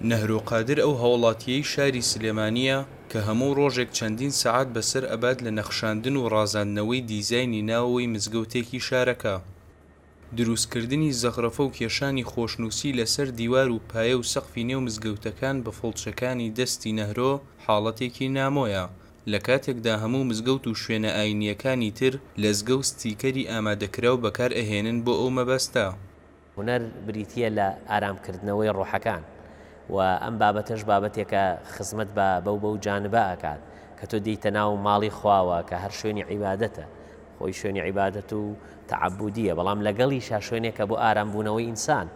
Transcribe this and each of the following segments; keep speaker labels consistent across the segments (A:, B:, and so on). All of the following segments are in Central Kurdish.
A: نەهرۆ قادر ئەو هاوڵاتییەی شاری سلێمانییە کە هەموو ڕۆژێک چەندین سەعات بەسەر ئەبات لە نەخشاندن و ڕازاندنەوەی دیزاینی ناوەوەی مزگەوتێکی شارەکە، دروستکردنی زەخرەفە و کێشانی خۆشنووسی لەسەر دیوار و پایە و سەقفی نێو مزگەوتەکان بە فڵچەکانی دەستی نەهرۆ حاڵەتێکی نامۆیە لە کاتێکدا هەموو مزگەوت و شوێنە ئایینییەکانی تر لەزگە و ستیکەری ئامادەکراو بەکار ئەهێنن بۆ ئەو مەبەستە. هونەر
B: بریتییە لە ئارامکردنەوەی ڕۆحەکان و ئەم بابەتەش بابەتێکە خزمەت بە بەو بەو جانبە ئەکات کە تۆ دێیتە ناو ماڵی خواوە کە هەر شوێنی عیبادەتە خۆی شوێنی عیبادەت و تەعبودیە بەڵام لەگەڵیشا شوێنێکە بۆ ئارامبوونەوەی ئینسان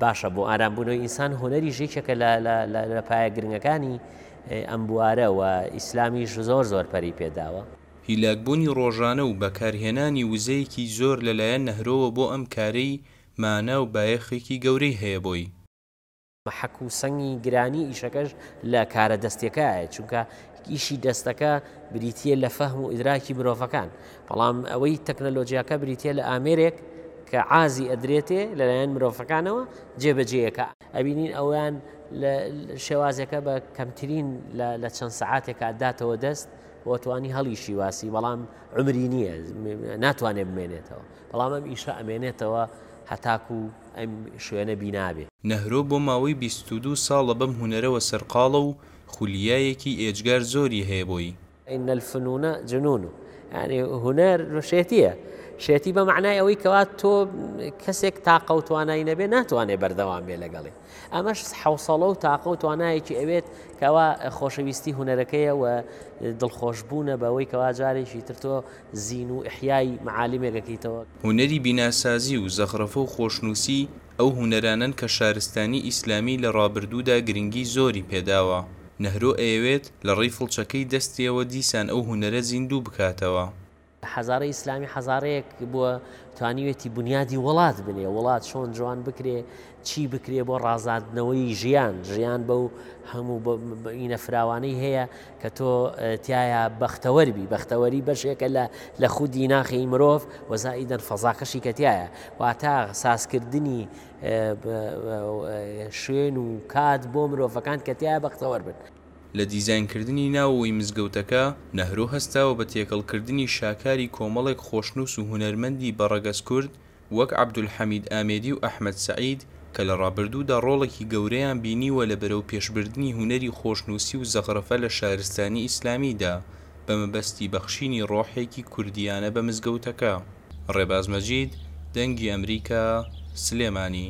B: باشە بۆ ئارامبوونەوەی ئینسان هۆنەری ژێکێکە لە پایە گرنگەکانی ئەم بوارە و ئیسلامیش زۆر زۆر پەری پێداوە هیلاکبوونی
A: ڕۆژانە و بەکارهێنانی وزەیەکی زۆر لەلایەن نەهرۆوە بۆ ئەم کارەی مانا و بایەخێکی گەورەی هەیە بۆی. مەحەک
B: و سەنگی گرانی ئیشەکەش لە کارە دەستیەکەیایە، چونکە ئیشی دەستەکە بریتییە لە فەهم و ئیدراکی مرۆڤەکان، بەڵام ئەوەی تەکنەلۆجیاکە بریتییە لە ئامێرێک کە عازی ئەدرێتێ لەلایەن مرۆڤەکانەوە جێبەجێیەکا، ئەبینین ئەویان لە شێوازێکە بە کەمترین لە لە چەند سەعاتێکا ئەداتەوە دەست، بۆ توانی هەڵیشی واسی بەڵام عمری نییە ناتوانێت بمێنێتەوە بەڵام ئەم ئیشە ئەمێنێتەوە هەتاکو ئەم شوێنە بینابێ. نەهرۆ بۆ ماوەی
A: بیست و دوو ساڵە بەم هونەرەوە سەرقاڵە و خولیایەکی ئێجگار زۆری هەیە بۆی. ان الفنون
B: جنون یانی هونەر شێتییە شێتی بە مەعنای ئەوەی کەوا تۆ کەسێک تاقە و توانای نەبێ ناتوانێ بەردەوام بێ لەگەڵی. ئەمەش حوسەڵە و تاقە و توانایەکی ئەوێت کەوا خۆشەویستی هوەرەکەیە و دڵخۆشببوونە بەوەی کەوا جارێکی تر تۆ زین و ئحیای معالیمێکەکەیتەوە هونەری
A: بیناسازی و زەخرەفە و خۆشنووسی ئەو هونەرانەن کە شارستانی ئیسلامی لە ڕابردوودا گرنگی زۆری پێداوە، نەهرۆ ئەیەوێت لە ڕێی فڵچەکەی دەستیەوە دیسان ئەو هونەرە زیندوو بکاتەوە. حەزارەی
B: ئیسلامی حەزارەیەک بووە توانیوێتی بنیادی وڵات بنێ وڵات چۆن جوان بکرێ چی بکرێ بۆ ڕازاندنەوەی ژیان ژیان بە و هەموو ئینە فراوانەی هەیە کە تۆ تایە بەختەوەربی بەختەوەری بەشێکە لە لە خودی ناخی مرۆڤ وەزایی دەن فەزاکەشی کەتیایە واتا سازکردنی شوێن و کات بۆ مرۆڤەکان کەتیایە بەختەوەر بن لە دیزاینکردنی
A: ناوەوەی مزگەوتەکە، نەهرۆ هەستاوە بە تێکەڵکردنی شاکاری کۆمەڵێک خۆشنووس و هونەرمەندی بە ڕەگەز کورد وەک عەبدولحەمید ئامێدی و ئەحمەد سەعید کە لە ڕابردوودا ڕۆڵێکی گەورەیان بینیوە لە بەرەوپێشبردنی هونەری خۆشنووسی و زەخرەفە لە شارستانی ئیسلامیدا بە مەبەستی بەخشینی ڕۆحێکی کوردییانە بە مزگەوتەکە. ڕێباز مەجید، دەنگی ئەمریکا، سلێمانی.